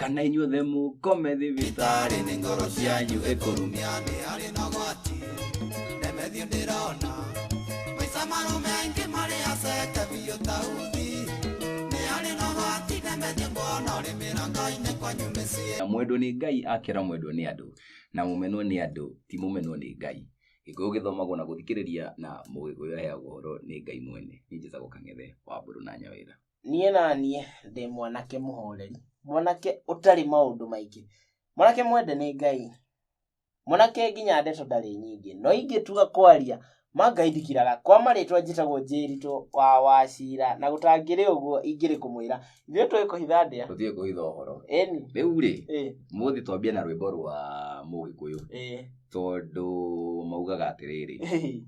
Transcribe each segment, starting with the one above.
kana inyuothe mũkome thibitarĩ nĩ ngoro cianyu ĩkũrumia nĩ harĩ na gwati ndemethio ndĩrona maica marũme aingĩ marĩ aceke biũ ta uthi nĩ harĩ na gwati ndemethio mbona ũrĩ mĩrango-inĩ kwanyu mĩciĩ na mwendwo nĩ ngai akĩra mwendwo nĩ andũ na mũmenwo nĩ andũ ti mũmenwo nĩ ngai gĩkũyũ gĩthomagwo na gũthikĩrĩria na mũgĩkũyũ aheagwo ũhoro nĩ ngai mwene nĩ njĩtagwo kang'ethe wa mbũrũ na nyawĩra niĩ naniĩ ndĩ mwanake mũhoreri mwanake ũtarĩ maũndũ maingĩ mwanake mwende nĩ ngai mwanake nginya ndeto ndarĩ nyingĩ no ingĩtua kwaria ma ngai ndikiraga kwa marĩtwa njĩtagwo njĩritũ wa wacira na gũtangĩrĩ ũguo ingĩrĩ kũmwĩra ithuĩ tũĩ kũhitha ndĩa tũthiĩ kũhitha ũhoro ĩni rĩu rĩ ĩ mũthĩ twambia na rwĩmbo rwa mũgĩkũyũ ĩ tondũ maugaga atĩrĩrĩ ĩ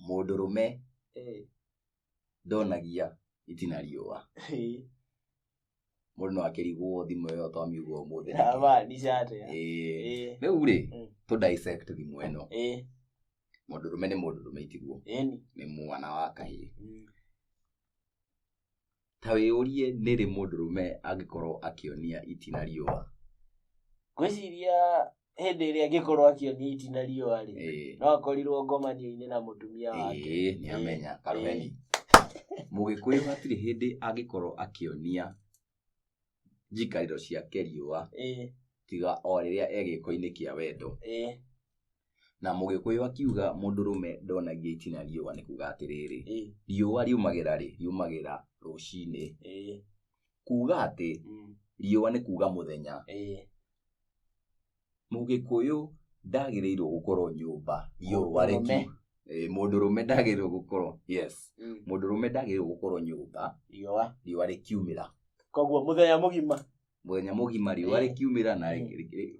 mũndũrũme ĩ ndonagia itina riũa Ĩĩ. mũndũ no akĩrigwo thimũ ĩyo twamiugwo ũmũthĩ nĩkĩ? Haba, ndicate. Ĩĩ. Ĩĩ. rĩu rĩ Mm. tũ dissect thimũ ĩno Ĩĩ. mũndũ rũme nĩ mũndũ rũme itiguo Ĩni. nĩ mwana wa kahĩĩ Mm. ta wĩyũrie nĩrĩ mũndũ rũme angĩkorwo akĩonia itina riũa Ngwĩciria hĩndĩ ĩrĩa angĩkorwo akĩonio iti na riũa rĩ Ĩĩ. no akorirwo ngomanio-inĩ na mũtumia wake Ĩĩ, nĩ amenya karũheni mũgĩkũyũ hatirĩ hĩndĩ angĩkorwo akĩonia njikarĩro ciake riũa Ĩĩ, tiga o rĩrĩa e gĩko-inĩ kĩa wendo ĩĩ, na mũgĩkũyũ akiuga mũndũ rũme ndonagia itina riũa nĩ kuga atĩrĩrĩ ĩĩ, riũa riumagĩra rĩ riumagĩra rũcinĩ ĩĩ, kuuga atĩ mm, riũa nĩ kuuga mũthenya eh, mũgĩkũyũ ndagĩrĩirwo gũkorwo nyũmba riũa Mũndũrũme. rĩki Eh, mũndũrũme ndagĩrĩirwo gũkorwo yes mm, mũndũrũme ndagĩrĩirwo gũkorwo nyũmba riũa riũa rĩkiumĩra koguo mũthenya mũgima mũthenya mũgima riũa Eh. rĩkiumĩra na Eh. rĩ- rĩ- rĩ-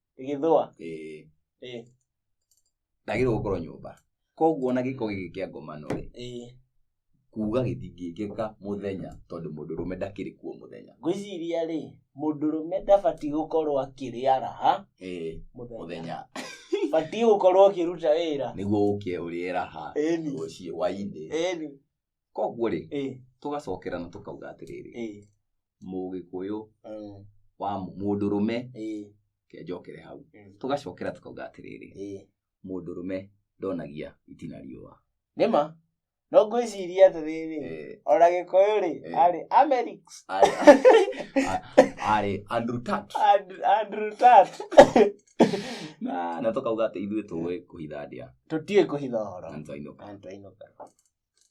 ĩgĩthũa Ĩĩ. Ĩĩ. ndagĩrĩirwo gũkorwo nyũmba koguo ona gĩko gĩkĩ kĩa ngomano rĩ Ĩĩ. kuga gĩtingĩkĩka mũthenya tondũ mũndũ rũme ndakĩrĩ kuo mũthenya ngwĩciria rĩ mũndũrũme ndabatiĩ gũkorwo akĩrĩara ha Ĩĩ, mũthenya mũthenya batiĩ gũkorwo ũkĩruta wĩra nĩguo ũke ũrĩera ha Ĩni. rũciĩ wainĩ ĩni koguo rĩ ĩĩ tũgacokera na tũkauga atĩrĩrĩ ĩĩ mũgĩkũyũ mm, wa mũ- mũndũrũme ĩĩ, ke njokere hau mm, tũgacokera tũkauga atĩrĩrĩ ĩĩ. mũndũrũme ndonagia itina riũa nĩma no ngwĩciria atĩrĩrĩ Eh, ona gĩkũyũ rĩ Eh. arĩ amerix arĩ- a- arĩ andrew tat And- andrew tat na na tũkauga atĩ ithuĩ tũĩ kũhitha ndĩa tũtiĩ kũhitha ũhoro na nĩ twainũka antũ ainũka